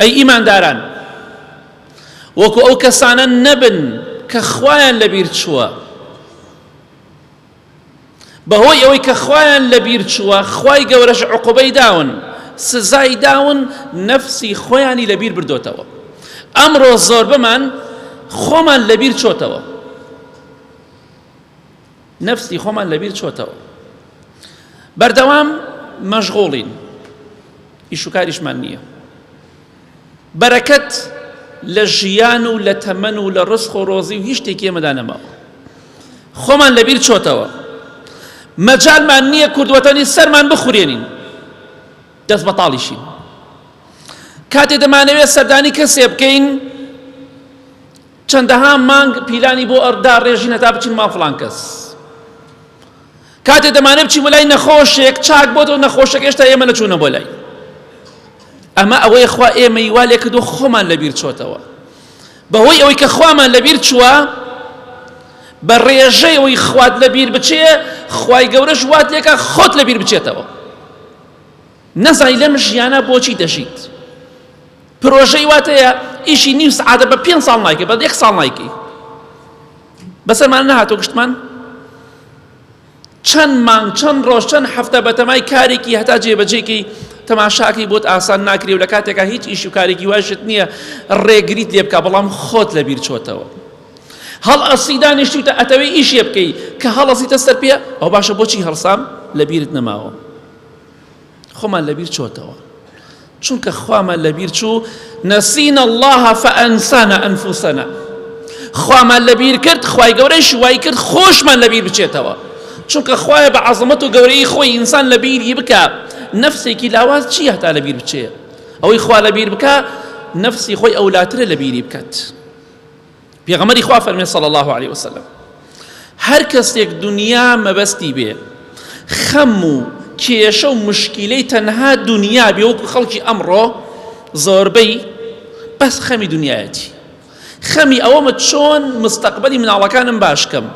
ئەی ئیمانداران وەکو ئەو کەسانە نەبن کە خوایان لەبیر چووە بەهۆی ئەوەی کە خوایان لەبیر چووە خوای گەورەش عقوبەی داون سزای داون نەفسی خۆیانی لەبیر بردۆتەوە ئەمڕۆ زۆربەمان خۆمان لەبیر چۆتەوە نەفسی خۆمان لەبیر چۆتەوە بەردەوام مەشغوڵین ئیشوکاریشمان نییە بەرەکەت لە ژیان و لە تەمەن و لە ڕسخ و ڕۆزی و هیچ شتێکی ئێمەدا نەماوە خۆمان لەبیر چۆتەوە مەجالمان نییە کوردوەتەنی سەرمان بخورێنین دەست بەتاڵیشین کاتێ دەمانەوێت سەردانی کەسێ بکەین چەندەها مانگ پیلانی بۆ داڕێژین هەتا بچین ماڵ فڵان کەس. کاتێ دەمانێ بچین بۆ لای نەخۆشێک چاک بۆ تۆ نەخۆشێک هێشتا ئێمە نەچوونە بۆ لای. ئەمە ئەوەی خوا ئێمەی وا لێ کردو خۆمان لەبیر چۆتەوە. بەهۆی ئەوەی کە خوامان لەبیر چووە بە ڕێژەیەوەی خوات لەبیر بچێ خوای گەورەش وات لێکە خۆت لەبیر بچێتەوە. نەزانی لەم ژیانە بۆچی دەژیت پرۆژەی واتەیە ئیشی نیو سعادە بە پێنج ساڵ نایکە بە یەک ساڵ نایکەی بەسەرمان نەهاتۆ گشتمان چەند مانگ چەند ڕۆژ چەند هەفتە بەتەمای کارێکی هەتا جێبەجێکی تەماشاکەی بۆت ئاسان ناکرێ و لە کاتێکا هیچ ئیش و کارێکی واشت نییە ڕێگریت لێ بکە بەڵام خۆت لە بیر چۆتەوە هەڵ ئەسی دانیشتوتە ئەتەوەی ئیشێ بکەی کە هەڵەزیتە سەر پێ ئەو باشە بۆچی هەڵسام لە بیرت نەماوە خۆمان لەبیر چۆتەوە چونکە خوامان لەبیر چوو نەسین اللهە فەئەنسانە ئەنفوسەنە خوامان لەبیر کرد خی گەورەی شوای کرد خۆشمان لەبیر بچێتەوە چونکە خوایە بە عزمەت و گەورەی خۆی ئینسان لە بیری بکە نەفسێکی لاواز چی هەتا لە بیر بچێ ئەوەی خوا لە بیر بکە نەفسی خۆی ئەولاترە لە بیری بکات پێغەمبەری خوا فەرمێ صلی الله علیه وسلم هەر کەسێک دنیا مەبەستی بێ خەم و کێشە و مشکیلەی تەنها دنیا بێ وەکو خەڵکی ئەمڕۆ زۆربەی بەس خەمی دنیایەتی خەمی ئەوەمە چۆن مستەقبلی مناڵەکانم باشکەم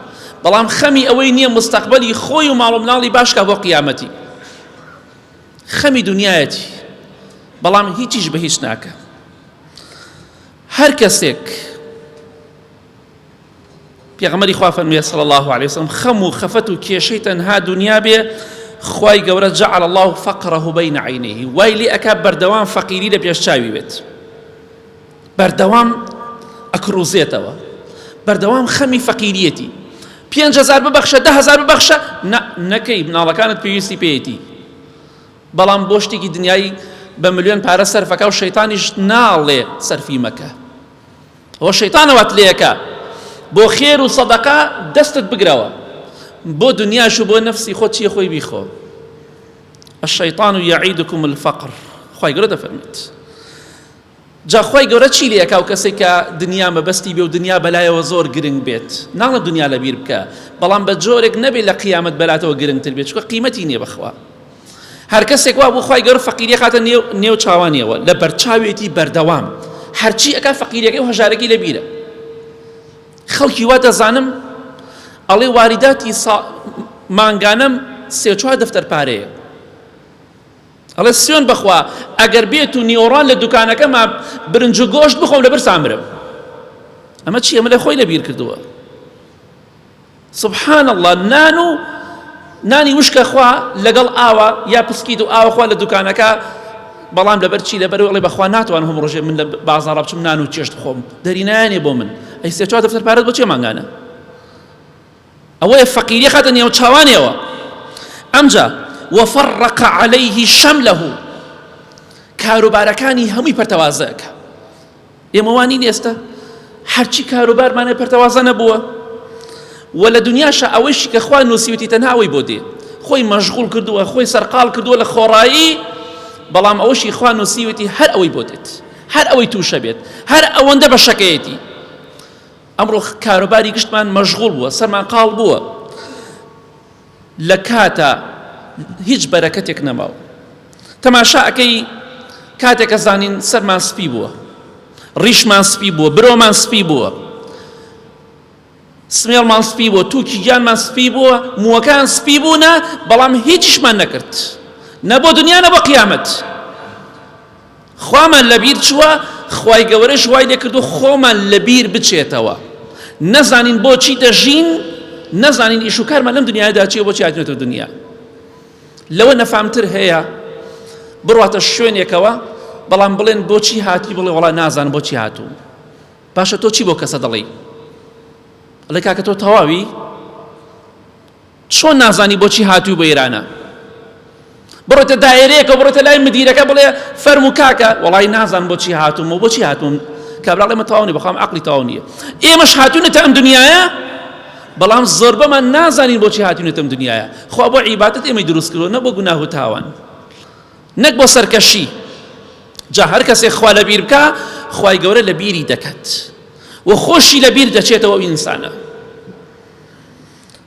بەڵام خەمی ئەوەی نییە مستەقبلی خۆی و ماڵ و مناڵی باشکە بۆ قیامەتی خەمی دنیایەتی بەڵام هیچیش بە هیچ ناکە هەر کەسێک پێغەمبەری خوا فەرموویە صلی الله علیه وسلم خەم و خەفەت و کێشەی تەنها دنیا بێ خوای گەورە جعل الله فقره بین عینیه وای لێ ئەکا بەردەوام فەقیری لە پێش چاوی بێت بەردەوام ئەکڕوزێتەوە بەردەوام خەمی فەقیریەتی پێنج هزار ببەخشە ده هزار ببەخشە نەکەی مناڵەکانت پێویستی پێیەتی بەڵام بۆ شتێکی دنیایی بە ملیۆن پارە سەرفەکە و شەیتانیش ناڵێ سەرفی مەکە ئەوە شەیتانەوەت لێەکە بۆ خێر و سەدەقە دەستت بگرەوە بۆ دنیاش و بۆ نەفسی خۆ چیە خۆی بیخۆ الشيطان يعيدكم الفقر خی گەورە دەفەرمیت جا خوای گەورە چی لێکا ئەو کەسەی کە دنیا مەبەستی بێ و دنیا بەلایەوە زۆر گرنگ بێت ناڵێ دنیا لەبیر بکە بەڵام بە جۆرێک نەبێت لە قیامەت بەلاتەوە گرنگتر بێت چکە قیمەتی نییە بەخوا هەر کەسێک وا بۆ خوای گەورە فەقیری خاتە نێو نێو چاوانیەوە لە بەرچاوێتی بەردەوام هەرچی ئەکا فەقیرەکەی و هەژارەکەی لەبیرە خەڵکی وا دەزانم ئەڵێ واریداتی سا... مانگانەم سێ چوار دەفتەر پارەیە ئەڵێ سوێن بەخوا ئەگەر بێت و نیۆڕان لە دوکانەکەما برنج و گۆشت بخۆم لە برسان مرم ئەمە چی ئەمە لە خۆی لەبیر کردووە سبحان الله نان و نانی وشکە خوا لەگەڵ ئاوە یا پسکیت و ئاوە خوا لە دوکانەکە بەڵام لەبەر چی لەبەر وڵی بەخوا ناتوان هەم ڕۆژێ من لە بازاڕە بچم نان و چێشت خۆم دەرینایانێ بۆ من ئەی سێ چوار دەفتەر پارەت بۆ چێ مانگانە ئەوەیە فەقیری خاتە نێو چاوانیەوە ئەمجا وفرق عليه شمله کاروبارەکانی هەمووی پەرتەوازەکە ئێمە وانین ئێستا هەرچی کاروبارمانە پەرتەوازە نەبووە و لە دنیاشە ئەوەیشی کە خوا نووسیوتی تەنهاوەی بۆ دێ خۆی مەشغول کردووە خۆی سەرقال کردووە لە خۆڕایی بەڵام ئەوەشی خوا نووسیوتی هەر ئەوەی بۆ دێت هەر ئەوەی تووشە بێت هەر ئەوەندە بە شەکەیەتی ئەمڕۆ کاروباری گشتمان مەشغوڵ بووە سەرمان قاڵ بووە لە کاتە هیچ بەرەکەتێک نەماوە تەماشاکەی کاتێکە زانین سەرمان سپی بووە ڕیشمان سپی بووە برۆمان سپی بووە سمێڵمان سپی بۆ تووکی گیانمان سپی بووە مووەکان سپی بوونە بەڵام هیچیشمان نەکرد نە بۆ دنیا نە بە قیامەت خوامان لەبیر چووە، خوای گەوەرەش وای لێ کردووە خۆمان لەبیر بچێتەوە، نەزانین بۆچی دەژین، نەزانین ئیش و کارمان لەم دنیادا چییە، بۆچی هاتوینەتە دنیا. لەوە نەفامتر هەیە بڕواتە شوێنێکەوە بەڵام بڵێن بۆچی هاتی بڵێ وڵا نازان بۆچی هاتوو باشە تۆ چی بۆ کەسە دەڵێی لە کاکە تۆ تەواوی چۆن نازانی بۆچی هاتوی بۆ ئێرانە بڕۆیتە دایرەیەکە بڕۆیتە لای مدیرەکە بڵێ فەرمو کاکە وەڵی نازان بۆچی هاتوم و بۆچی هاتوم کابراڵێ مە تەواونی بەخوام عقلی تەواو نییە ئێمەش هاتوونەتە ئەم دنیاە بەڵام زۆربەمان نازانین بۆچی هاتوونەتەم دنیاە خوا بۆ عیباتت ئێمەی دروست کردو نە بۆ گوناه و تاوان نەک بۆ سەرکەشی جا هەر کەسێ خوا لە بیر بکە خی گەورە لە بیری دەکات و خۆشی لە بیر دەچێتەوە ئینسانە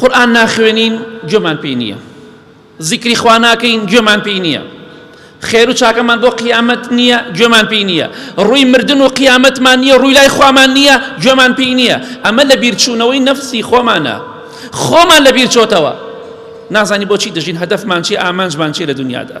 قورئان ناخوێنین گوێمان پێی نییە زیکری خوا ناکەین گوێمان پێی نییە خێر و چاکەمان بۆ قیامەت نییە گوێمان پێی نییە ڕووی مردن و قیامەتمان نییە ڕووی لای خوامان نییە گوێمان پێی نییە ئەمە لە بیرچوونەوەی نەفسی خۆمانە خۆمان لە بیرچۆتەوە نازانی بۆچی دەژین هەدەفمان چی ئامانجمان چی لە دنیادا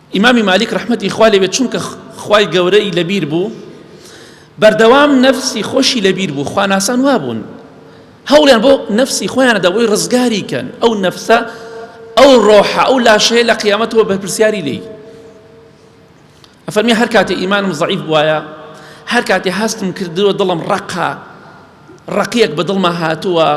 ئیمامی مالیک ڕەحمەتی خوا لێبێت چونکە خوای گەورە ی لەبیر بوو بەردەوام نەفسی خۆشی لەبیر بوو خواناسان وابوون هەوڵیان بۆ نەفسی خۆیانە دەبۆی ڕزگاری کەن ئەو نەفسە ئەو ڕۆحە ئەو لاشەیە لە قیامەتەوە بەرپرسیاری لێی ئەفەرمی هەر کاتێ ئیمانم زەعیف بواە هەر کاتێ هەستم کردووە دڵم ڕقا ڕقیەک بە دڵما هاتووە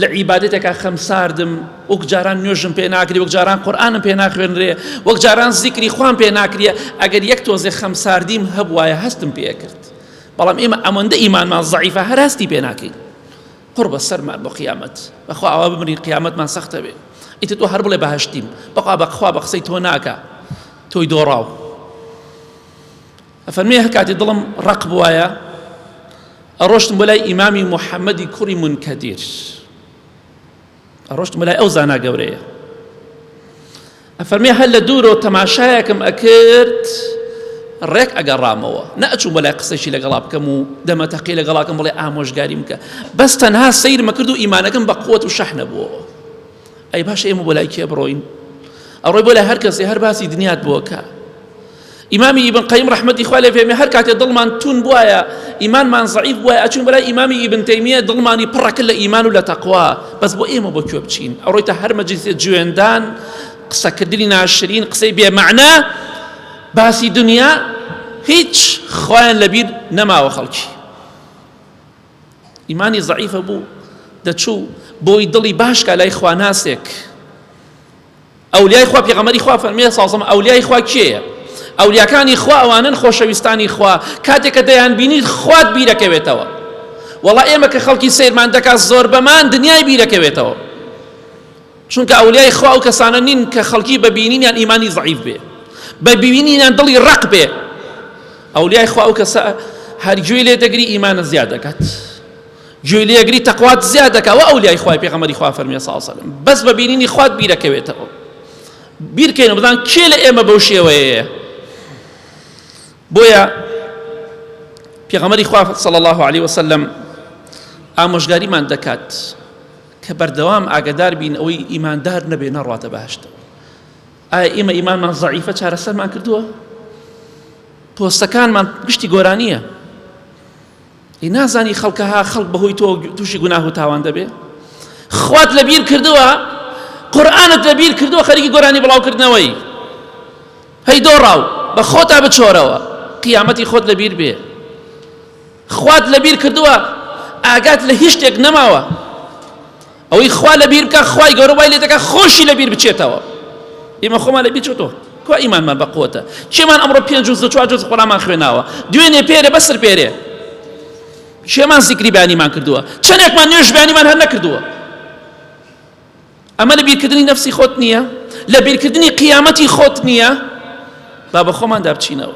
لە عیبادەتێکا خەم ساردم وەک جاران نوێژم پێ ناکری وەک جاران قورآانم پێ ناخوێنرێ وەک جاران زیکری خوان پێ ناکریە ئەگەر یەک تۆزێ خەم ساردیم هەبواە هەستم پێ کرد بەڵام ئێمە ئەمەندە ئیمانمان زعیفە هەر هەستی پێ ناکەین قڕ بە سەرمان بۆ قیامەت بەخوا ئەوە بمرین قیامەتمان سەختە بێ ئیتر تۆ هەر بڵێ بەهشتیم بەخوا بەخوا بە قسەی تۆ ناکە تۆی دۆڕاو ئەفەرمێ هەرکاتی دڵم ڕەق بوایە ئەڕۆشتم بۆ لای ئیمامی محەممەدی کوڕی منکەدیر ئەڕۆشتم بۆ لای ئەو زانا گەورەیە ئەفەرمێ هەر لە دوورەوە تەماشایەکم ئەکرد ڕێک ئەگەڕامەوە نەچوو بە لای قسەشی لەگەڵا بکەم و دەمەتەقی لەگەڵاکەم بڵێ ئامۆژگاریم کە بەس تەنها سیرمە کرد و ئیمانەکەم بە قوت و شەحنە بووە ئەی باش ئێمە بۆ لای کێ بڕۆین ئەوڕۆی بۆ لە هەر کەسی هەر باسی دنیات بووەکە ئیمامی ئیبن قەیم ڕەحمەتی خوا لێ فێرمێ هەر کاتێ دڵمان تون بوایە ئیمانمان زەعیف بوایە ئەچوین بەلای ئیمامی ئیبن تەیمیە دڵمانی پڕەکە لە ئیمان و لە تەقوا بەس بۆ ئێمە بۆ کوێ بچین ئەوڕۆی تا هەر مەجلیسێ جوێندان قسەکردنی ناشرین قسەی بێمەعنا باسی دنیا هیچ خوایان لەبیر نەماوە خەڵکی ئیمانی زەعیفە بوو دەچوو بۆی دڵی باشکە لای خواناسێک ئەولیای خوا پێغەمبەری خوا فەرموویە ساسم ئەولیای خوا کێیە ئەولیاکانی خوا ئەوانن خۆشەویستانی خوا کاتێک کە دەیان بینیت خوات بیرەکەوێتەوە وەڵا ئێمە کە خەڵکی سیرمان دەکات زۆر بەمان دنیای بیرەکەوێتەوە چونکە ئەولیای خوا ئەو کەسانە نین کە خەڵکی بە بینینیان ئیمانی زعیف بێ بە بینینیان دڵی ڕق بێ ئەولیای خوا ئەو کەسە هەرگوێ لێ دەگری ئیمانە زیاد دەکات گوێی لێگری تەقوات زیاد دەکا و ئەولیای خوای پێغەمەری خوا فەرمیە ساڵ سەلم بەس بە بینینی خوات بیرەکەوێتەوە بیرکەین بدان کێ لە ئێمە بەو شێوەیە بۆیە پێغەمەری خوا صلی الله عليه وسلم ئامۆژگاریمان دەکات کە بەردەوام ئاگدار بین ئەوەی ئیماندار نەبێ نەڕاتە باشت ئایا ئێمە ئیمانمان زعیفە چارەسەرمان کردووە پۆستەکانمان گشتی گۆرانیە ئەی نازانی خەڵکە ها خەڵک بەهۆی تۆ تووشی گوناه و تاوان دەبێ خوات لە بیر کردووە قورآانت لە بیر کردووە خەریکی گۆرانی بڵاوکردنەوەی هەی دۆڕاو بە خۆتا بچۆرەوە قیامەتی خۆت لە بیر بێ خوات لە بیر کردووە ئاگات لە هیچ شتێک نەماوە ئەوەی خوا لەبیر بکا خوای گەورە وای لێ دەکا خۆشی لەبیر بچێتەوە ئێمە خۆمان لەبیر چۆتەوە کوا ئیمانمان بە قوتە چێمان ئەمڕۆ پێنج جوز چوار جوز قوڵامان خوێناوە دوێنێ پێرە بەسەر پێرێ شێمان زیکری بانیمان کردووە چەندێکمان نوێژ بانیمان هەر نەکردووە ئەمە لە بیرکردنی نفسی خۆت نییە لە بیرکردنی قیامەتی خۆت نییە با بە خۆماندا بچینەوە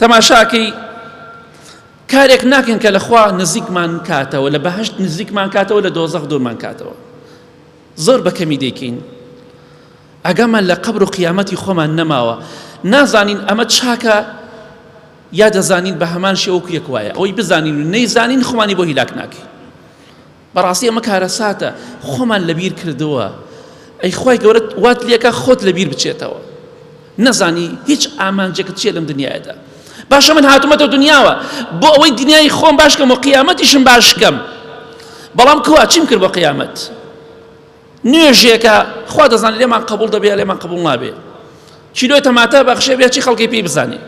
تەماشاکەی کارێک ناکەین کە لەخوا نزیکمان کاتەوە لە بەهشت نزیکمان کاتەوە لە دۆزەخ دوورمان کاتەوە زۆر بەکەمی دەیکەین ئەگەمان لە قبر و قیامەتی خۆمان نەماوە نازانین ئەمە چاکە یا دەزانین بە هەمان شێوەکو یەک وایە ئەوی بزانین و نەیزانین خۆمانی بۆ هیلاک ناکەین بەڕاستی ئەمە کارەساتە خۆمان لەبیر کردووە ئەی خوای گەورە وات لێکە خۆت لەبیر بچێتەوە نەزانی هیچ ئامانجێکت چیە لەم دنیادا باشە من هاتومەتە دنیاوە بۆ ئەوەی دنیای خۆم باشکەم و قیامەتیشم باشکەم بەڵام کوا چیم کرد بە قیامەت نوێژێکە خوا دەزانێت لێمان قبول دەبێ یا لێمان قبول نابێ چیلۆی تەماتە بەخشێ بێ چی خەڵکی پێی بزانێ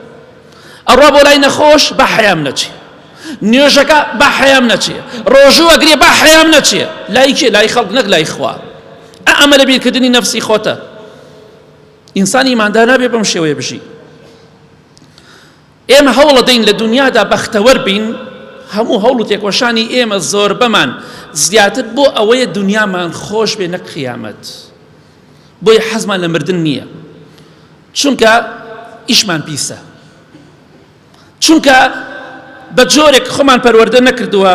ئەڕا بۆ لای نەخۆش بە حەیام نەچێ نوێژەکە بە حەیام نەچێ ڕۆژوو ئەگرێ بە حەیام نەچێ لای کێ لای خەڵک نەک لای خوا ئەمە لە بیرکردنی نەفسی خۆتە ئینسانی مادا نابێ بەم شێوەیە بژی ئێمە هەوڵەدەین لە دونیادا بەختەوەر بین، هەموو هەوڵ و تێکۆشانی ئێمە زۆربەمان زیاتر بۆ ئەوەیە دونیامان خۆش بێ نەک قیامەت، بۆیە حەزمان لە مردن نییە، چونکە ئیشمان پیسە، چونکە بە جۆرێک خۆمان پەروەردە نەکردووە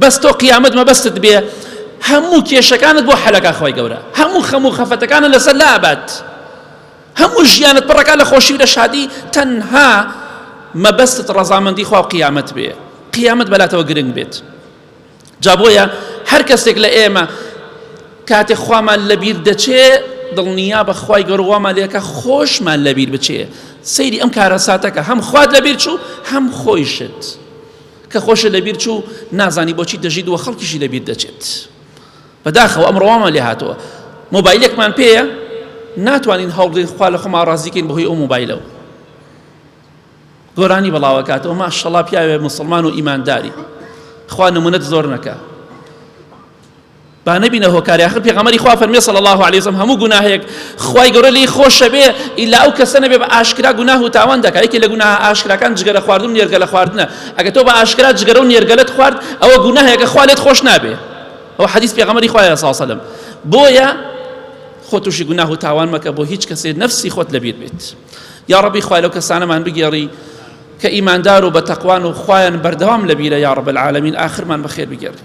بەس تۆ قیامەت مەبەستت بێ هەموو کێشەکانت بۆ حەلەکە خوای گەورە هەموو خەموو خەفەتەکانە لەسەر لابات هەموو ژیانت پڕەکە لە خۆشی و لە شادی تەنها مەبەستت ڕەزامەندی خوا و قیامەت بێ قیامەت بەلاتەوە گرنگ بێت جابۆیە هەر کەسێک لە ئێمە کاتێ خوامان لەبیر دەچێ دڵنیا بەخوای گەڕوامان لێکە خۆشمان لەبیر بچێ سەیری ئەم کارە ساتەکە هەم خوات لەبیر چوو هەم خۆیشت. کە خۆشی لەبیر چوو نازانی بۆچی دەژیت و خەڵکیشی لەبیر دەچێت بەداخەوە ئەمڕۆ وامان لێ هاتووە مۆبایلێکمان پێیە ناتوانین هەوڵدەین خوا لە خۆمان ڕازیکەین بەهۆی ئەو مۆبایلەوە گۆرانی بەڵاوەکاتەوە ماشەڵا پیاوێ مسلمان و ئیمانداری خوا نمونەت زۆر نەکە با نەبینە هۆکاری ئاخر پێغەمبەری خوا فەرمی صلی الله علیه وسلم هەموو گوناهێک خوای گەورە لێی خۆشە بێ ئیلا ئەو کەسە نەبێ بە ئاشکرا گوناه و تاوان دەکا یەکێ لە گوناه ئاشکراکان جگەرە خواردن و نێرگەلە خواردنە ئەگە تۆ بە ئاشکرا جگەرە و نێرگەلەت خوارد ئەوە گوناهێکە خوا لێت خۆش نابێ ئەو حەدیث پێغەمبەری خوای صلی الله علیه وسلم بۆیە خۆ تووشی گوناه و تاوان مەکە بۆ هیچ کەسێ نفسی خۆت لەبیر بێت یا ڕەبی خوای لەو کەسانەمان بگێڕی کە ئیماندار و بە تەقوان و خوایان بەردەوام لەبیرە یا ڕب العالمین ئاخرمان بەخێر بگێڕی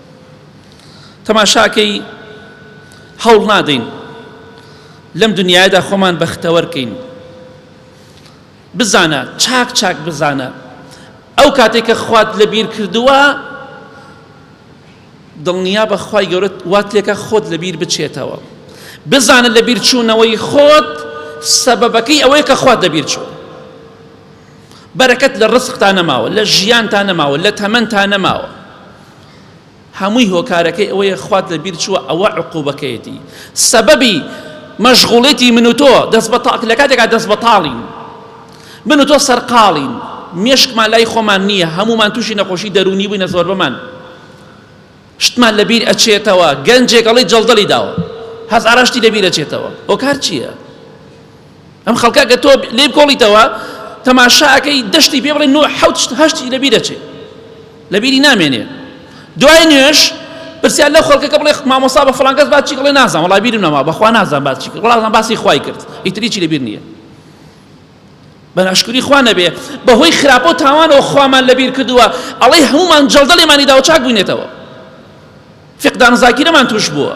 تەماشاکەی هەوڵ نادەین لەم دنیادا خۆمان بەختەوەرکەین بزانە چاک چاک بزانە ئەو کاتێک کە خوات لە بیر کردووە دڵنیا بەخوای گەورەت وات لێکە خۆت لە بیر بچێتەوە بزانە لە بیر چوونەوەی خۆت سەبەبەکەی ئەوەیە کە خوات دەبیر چوە بەرەکەت لە ڕسقتا نەماوە لە ژیانتا نەماوە لە تەمەنتا نەماوە هەمووی هۆکارەکەی ئەوەیە خوات لە بیر چووە ئەوە عقوبەکەیەتی سەبەبی مەشغوڵێتی من و تۆ دەست بە لە کاتێکا دەست بەتاڵین من و تۆ سەرقاڵین مێشکمان لای خۆمان نییە هەمومان تووشی نەخۆشی دەرونی بووینە زۆربەمان شتمان لەبیر ئەچێتەوە گەنجێکەڵی جەڵدەلی داوە هەزارشتی لەبیر ئەچێتەوە هۆکار چییە؟ ئەم خەڵکە کە تۆ لێ بکۆڵیتەوە تەماشاکەی دەشتی پێ بڵێ نۆ حوت هەشتی لەبی دەچێ لەبیری نامێنێ دوای نوێش پرسیار لە خەڵکەکە بڵێ مامۆسا بە فلانکەس باچی بڵێ نازان وڵای بیرم نەما بەخوا نازان باچی کرد وڵازان باسی خوای کرد ئیتریی لەبیر نییە بە ناشکری خوا نەبێ بەهۆی خراپە و تاوانەوە خوامان لەبیر کردووە ئەڵەی هەمومان جەڵدە لێمانی داوە چاک بووینێتەوە فقدان زاکیرەمان توش بووە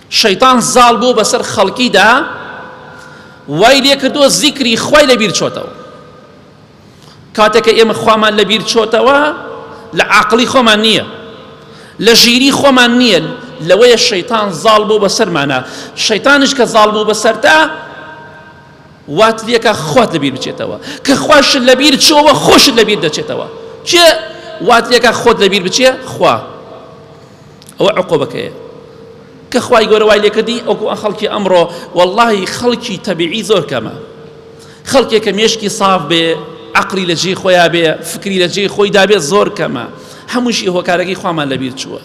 شەیتان زاڵ بووە بەسەر خەڵکیدا وای لێکردووە زیکری خوای لەبیر چۆتەوە کاتێک کە ئێمە خوامان لەبیر چۆتەوە لە عاقڵی خۆمان نییە لە ژیری خۆمان نییە لەوەیە شەیتان زاڵ بۆ بەسەرمانە شەیتانش کە زاڵ بوو بەسەرتا وات لێکە خۆت لەبیر بچێتەوە کە خوش لەبیر چۆوە خۆشت لەبیر دەچێتەوە چێ وات لێکە خۆت لەبیر بچێ خوا ئەوە عقوبەکەیە کە خوای گەورە وای لێکردی ئەو خەڵکی ئەمڕۆ واللهی خەڵکی تەبیعی زۆر کەمە خەڵکێک کە مێشکی صاف بێ عقلی لە جێی خۆیان بێ فکری لە جێی خۆی دابێت زۆر کەمە هەمووشی هۆکارەکەی خوامان لەبیر چووە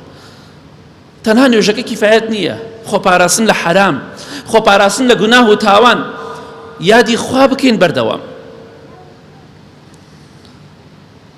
تەنها نوێژەکە کیفاەت نییە خۆپاراستن لە حرام خۆپاراستن لە گوناه و تاوان یادی خوا بکەین بەردەوام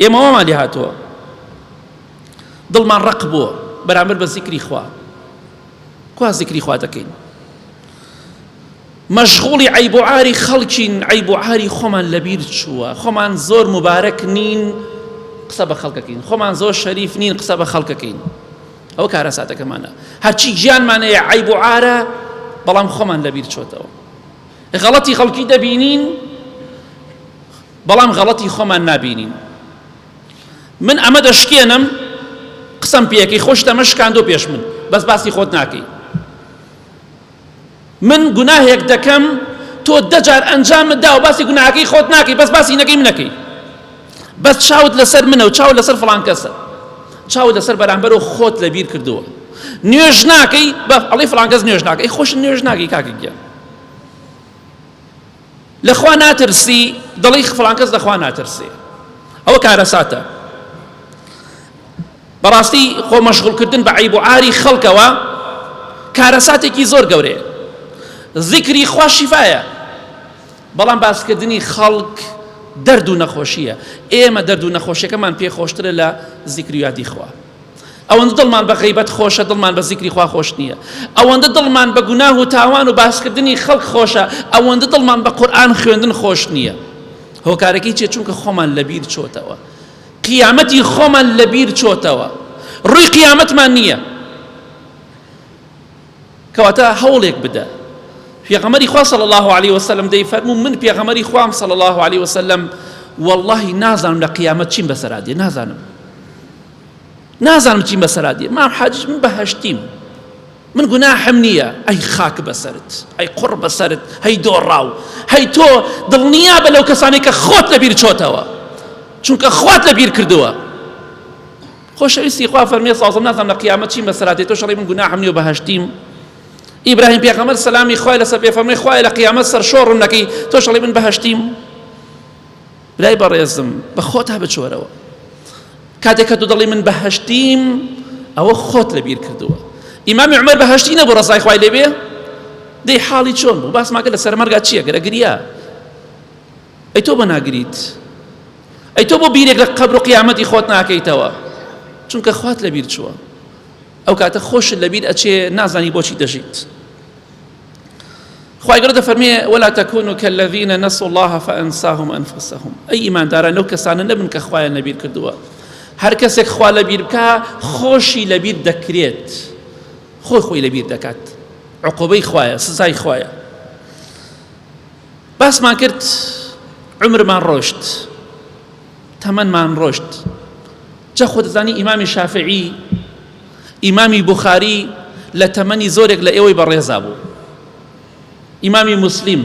ئێمە وامان لێ هاتووە دڵمان ڕق بووە بەرامبەر بە زیکری خوا کوا زیکری خوا دەکەین مەشغوڵی عیب و عاری خەڵکین عیب و عاری خۆمان لەبیر چووە خۆمان زۆر مبارەک نین قسە بە خەڵکەکەین خۆمان زۆر شەریف نین قسە بە خەڵکەکەین ئەو کارە ساتەکەمانە هەرچی گیانمانەیە عیب و عارە بەڵام خۆمان لەبیر چۆتەوە غەڵەتی خەڵکی دەبینین بەڵام غەڵەتی خۆمان نابینین من ئەمە دەشکێنم قسەم پێەکەی خۆشت ئەمە شکاندۆ پێش من بەس باسی خۆت ناکەی من گوناهێک دەکەم تۆ دەجار ئەنجام دا و باسی گوناهەکەی خۆت ناکەی بەس باسی نەکەی منەکەی بەس چاوت لەسەر منە و چاو لەسەر فڵان کەسە چاو لەسەر بەرامبەرەوە خۆت لە بیر کردووە نوێژ ناکەی بە ئەڵی فڵانگەز نوێژ ناکەی خۆش نوێژ ناکەی کاکە گیان لە خوا ناترسی دەڵی فڵان کەس لە خوا ناترسێ ئەوە کارەساتە بەڕاستی خۆ مەشغولکردن بە عیب و عاری خەڵکەوە کارەساتێکی زۆر گەورەیە ذیکری خوا شیفایە بەڵام باسکردنی خەڵک دەرد و نەخۆشیە ئێمە دەرد و نەخۆشیەکەمان پێخۆشترە لە ذیکر و یادی خوا ئەوەندە دڵمان بە غیبەت خۆشە دڵمان بە زیکری خوا خۆش نییە ئەوەندە دڵمان بە گوناه و تاوان و باسکردنی خەڵک خۆشە ئەوەندە دڵمان بە قورآن خوێندن خۆش نییە هۆکارەکەی چێ چونکە خۆمان لەبیر چۆتەوە قیامەتی خۆمان لەبیر چۆتەوە ڕووی قیامەتمان نییە کەواتە هەوڵێک بدە پێغەمەری خوا صلی الله علیه وسلم دەی فەرموو من پێغەمەری خوام صلی الله علیه وسلم واللهی نازانم لە قیامەت چیم بەسەرا دێ نازانم نازانم چیم بەسەرا دێ مام حاجیش من بەهشتیم من گوناحم نییە ئەی خاک بەسرت ئەی قڕ بەسرت هەی دۆڕاو هەی تۆ دڵنیا بە لەو کەسانی کە خۆت لەبیر چۆتەوە چونکە خوات لەبیر کردووە خۆشەویستی خوا فەرمێ سەڵسەم نازانم لە قیامەت چیم بەسەرا دێ تۆ شەڕی من گوناحم نیە و بەهەشتیم ئیبراهیم پێغەمبەر سەلامی خوای لەسەر بێ فەرمێ خوای لە قیامەت سەرشۆڕم نەکەی تۆ شەڕی من بەهەشتیم لای بەڕێزم بە خۆتا بچۆرەوە کاتێک کە تۆ دەڵی من بەهەشتیم ئەوە خۆت لەبیر کردووە ئیمامی عمر بەهشتی نەبوو ڕزای خوای لێبێ دەی حاڵی چۆن بوو باسماکە لە سەرمەرگا چییە گەرە گریا ئەی تۆ بۆ ناگریت؟ ئەی تۆ بۆ بیرێک لە قەبر و قیامەتی خۆت ناکەیتەوە؟ چونکە خوات لەبیر چووە ئەو کاتە خۆشت لەبیر ئەچێ نازانی بۆچی دەژیت خی گەورە دەفەرمێ ولا تەکون و کەلەڤینە نەسو الله فەنساهم ئەنفسهم ئەی ئیمانداران لەو کەسانە نەبن کە خوایان لەبیر کردووە هەر کەسێک خوا لەبیر بکە خۆشی لەبیر دەکرێت خۆی خۆی لەبیر دەکات عقوبەی خوایە سزای خوایە باسمان کرد عمرمان ڕۆشت تەمەنمان ڕۆشت جا خۆ دەزانی ئیمامی شافعی ئیمامی بخاری لە تەمەنی زۆرێک لە ئێوەی بەڕێزا بوو ئیمامی مسلیم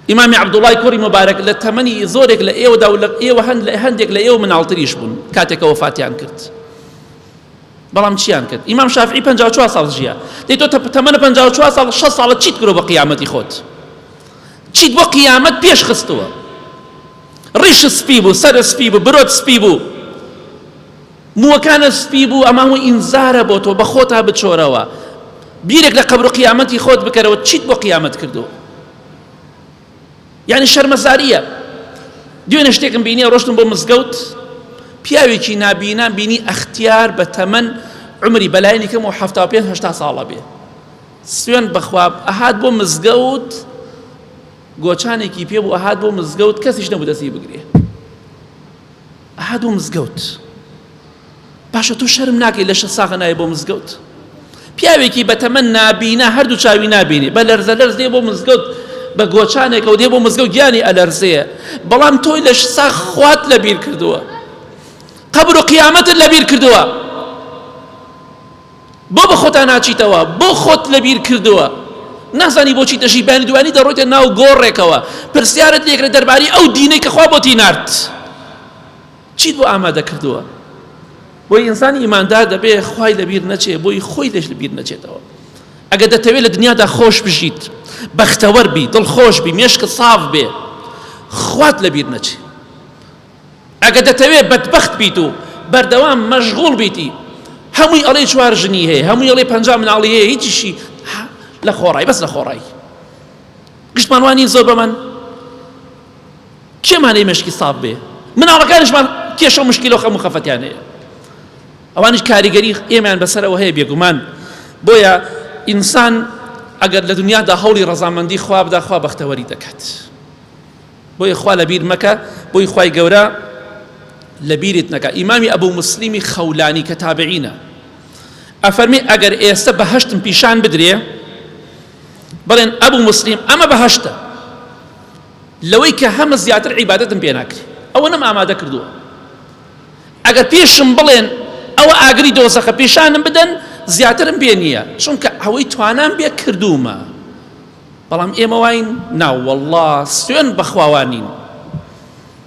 ئیمامی عبدوڵای کوڕی مبارەک لە تەمەنی زۆرێک لە ئێوەدا و لە ئێوە هەند لە هەندێک لە ئێوە مناڵتریش بوون کاتێکەوە فاتیان کرد بەڵام چیان کرد ئیمام شافعی پەنجا و چوار ساڵ ژیا دەی تۆ تەمەنە پەنجا و چوار ساڵ شەست ساڵە چیت کرۆ بە قیامەتی خۆت چیت بۆ قیامەت پێش خستووە ڕیش سپی بوو سەر سپی بوو برۆت سپی بوو مووەکانە سپی بوو ئەمە هەموو ئینزارە بۆ تۆ بە خۆتا بچۆرەوە بیرێک لە قەبر و قیامەتی خۆت بکەرەوە چیت بۆ قیامەت کردووە یانی شەرمەزاریە دوێنێ شتێکم بینیە ڕۆشتم بۆ مزگەوت پیاوێکی نابینان بینی ئەختیار بە تەمەن عمری بەلایەنی کەم و ه پێ هشتا ساڵە بێ سوێن بەخوا ئەهات بۆ مزگەوت گۆچانێکی پێ بوو ئەهات بۆ مزگەوت کەسیش نەبوو دەستی بگرێ ئەهات بۆ مزگەوت باشە تۆ شەرم ناکەی لە شە ساغە نایە بۆ مزگەوت پیاوێکی بەتەمەن نابینا هەردوو چاوی نابینی بە لەرزە لەرز دێ بۆ مزگەوت بە گۆچانێکەوە دێ بۆ مزگەوت گیانی ئەلەرزەیە بەڵام تۆی لە ساغ خوات لە بیر کردووە قبر و قیامەتت لە بیر کردووە بۆ بە خۆتا ناچیتەوە بۆ خۆت لە بیر کردووە نازانی بۆچی دەژی بانی دوانی دەڕۆیتە ناو گۆڕێکەوە پرسیارت لێکرێت دەرباری ئەو دینەی کە خوا بۆتی نرد چیت بۆ ئامادە کردووە بۆی ئینسانی ئیماندار دەبێ خوای لەبیر نەچێ بۆی خۆی لەش لەبیر نەچێتەوە ئەگە دەتەوێت لە دنیادا خۆش بژیت بەختەوەەر بی دڵ خۆش بی مێشکت ساف بێ خوات لەبیر نەچێ ئەگە دەتەوێت بەدبخت بیت و بەردەوام مەشغول بیتی هەمووی ئەڵێ چوار ژنی هەیە هەمووی ئەڵێ پنج مناڵی هەیە هیچیشی لە خۆڕای بەس لە خۆڕایی گشتمانوانی زۆر بەمن کێ مانەی مێشکی ساف بێ مناڵەکانیشمان کێشە و مشکیلە و خەم و خەفەتیان هەیە ئەوانیش کاریگەری ئێمەیان بەسەرەوە هەیە بێگومان بۆیە ئینسان ئەگەر لە دنیادا هەوڵی ڕەزامەندی خوا بدا خوا بەختەوەری دەکات بۆیە خوا لە بیر مەکە بۆی خوای گەورە لە بیرت نەکە ئیمامی ئەبوو مسلیمی خەولانی کە تابعینە ئەفەرمی ئەگەر ئێستا بەهشتم پیشان بدرێ بڵێن ئەبو موسلیم ئەمە بەهەشتە لەوەی کە هەمە زیاتر عیبادەتم پێ ناکری ئەوە نەم ئامادە کردووە ئەگەر پێشم بڵێن ئەوە ئاگری دۆزەخە پیشانم بدەن زیاترم پێ نییە چونکە ئەوەی توانام بێ کردوومە بەڵام ئێمە واین ناوەله سوێن بەخواوانین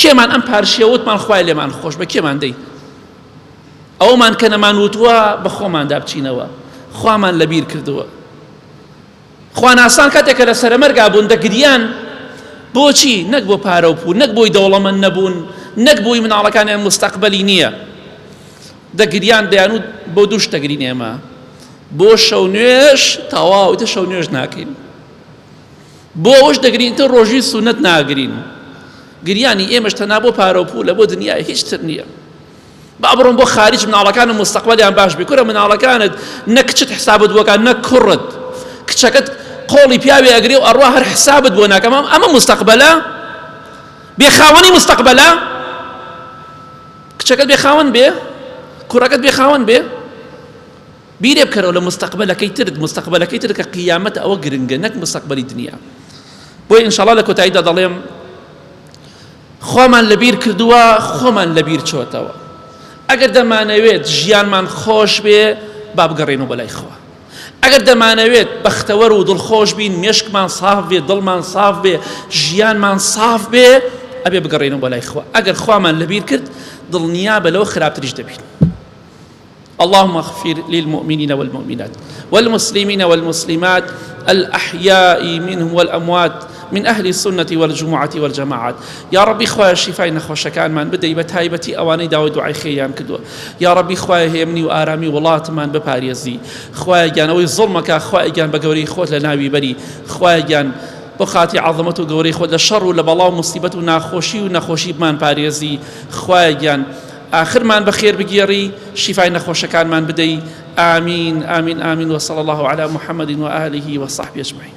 کێمان ئەم پارشیە وتمان خوای لێمان خۆش بە کێمان دەی ئەومان کە نەمان وتوە بە خۆماندا بچینەوە خوامان لەبیر کردووە خواناسان کاتێک کە لە سەرەمەرگا بوون دەگریان بۆچی نەک بۆ پارە و پوو نەک بۆی دەوڵەمەند نەبوون نەک بۆی مناڵەکانیان مستەقبلی نییە دەگریان دەیان و بۆ دووش دەگرین ئێمە بۆ شەو نوێش تەواوتە شەو نوێش ناکەین بۆ ئەوەش دەگرین تۆ ڕۆژوی سونەت ناگرین گریانی ئێمەش تەنها بۆ پارە و پولە بۆ دنیای هیچ تر نییە با بڕۆن بۆ خارج مناڵەکانم مستەقبەلیان باش بێ کورە مناڵەکانت نە کچت حسابت بۆکان نە کوڕت کچەکەت قۆڵی پیاوێ ئەگرێ و ئەڕوا هەر حسابت بۆ ناکەم ئەمە مستەقبەلە بێ خاوەنی مستەقبەلە کچەکەت بێ خاوەن بێ کوڕەکەت بێ خاوەن بێ بیرێ بکەرەوە لە مستەقبەلەکەی ترت مستەقبەلەکەی ترت کە قیامەتە ئەوە گرنگە نەک مستەقبەلی دنیا بۆیە ئینشاڵا لە کۆتاییدا دەڵێم خۆمان لەبیر کردووە خۆمان لەبیر چۆتەوە ئەگەر دەمانەوێت ژیانمان خۆش بێ با بگەڕێن و بەلای خوا ئەگەر دەمانەوێت بەختەوەر و دڵخۆش بین مێشکمان ساف بێ دڵمان ساف بێ ژیانمان ساف بێ ئەبێ بگەڕێنەوە بەلای خوا ئەگەر خوامان لەبیر کرد دڵنیا بە لەو خراپتریش دەبین اللهم اغفر للمؤمنین والمؤمنات والمسلمین والمسلمات الأحیاء منهم والأموات من أهل السنة والجمعة والجماعات یا ربی خوای شیفای نەخۆشەکانمان بدەی بە تایبەتی ئەوانەی داوە دوعای خێریان کردووە یا ربی خوای هێمنی و ئارامی وڵاتمان بپارێزی خوای گیانەوەی زڵمەکە خوای گیان بە گەورەی خۆت لە ناوی بەری خوای گیان بۆ خاتی عظمەت و گەورەی خۆت لە شەڕ و لە بەڵاو مصیبەت و ناخۆشی و نەخۆشیمان پارێزی خوای گیان ئاخرمان بەخێر بگێڕی شیفای نەخۆشەکانمان بدەی ئامین ئامین ئامین وصلی اللە علی محمد وآله وصحبه اجمعین.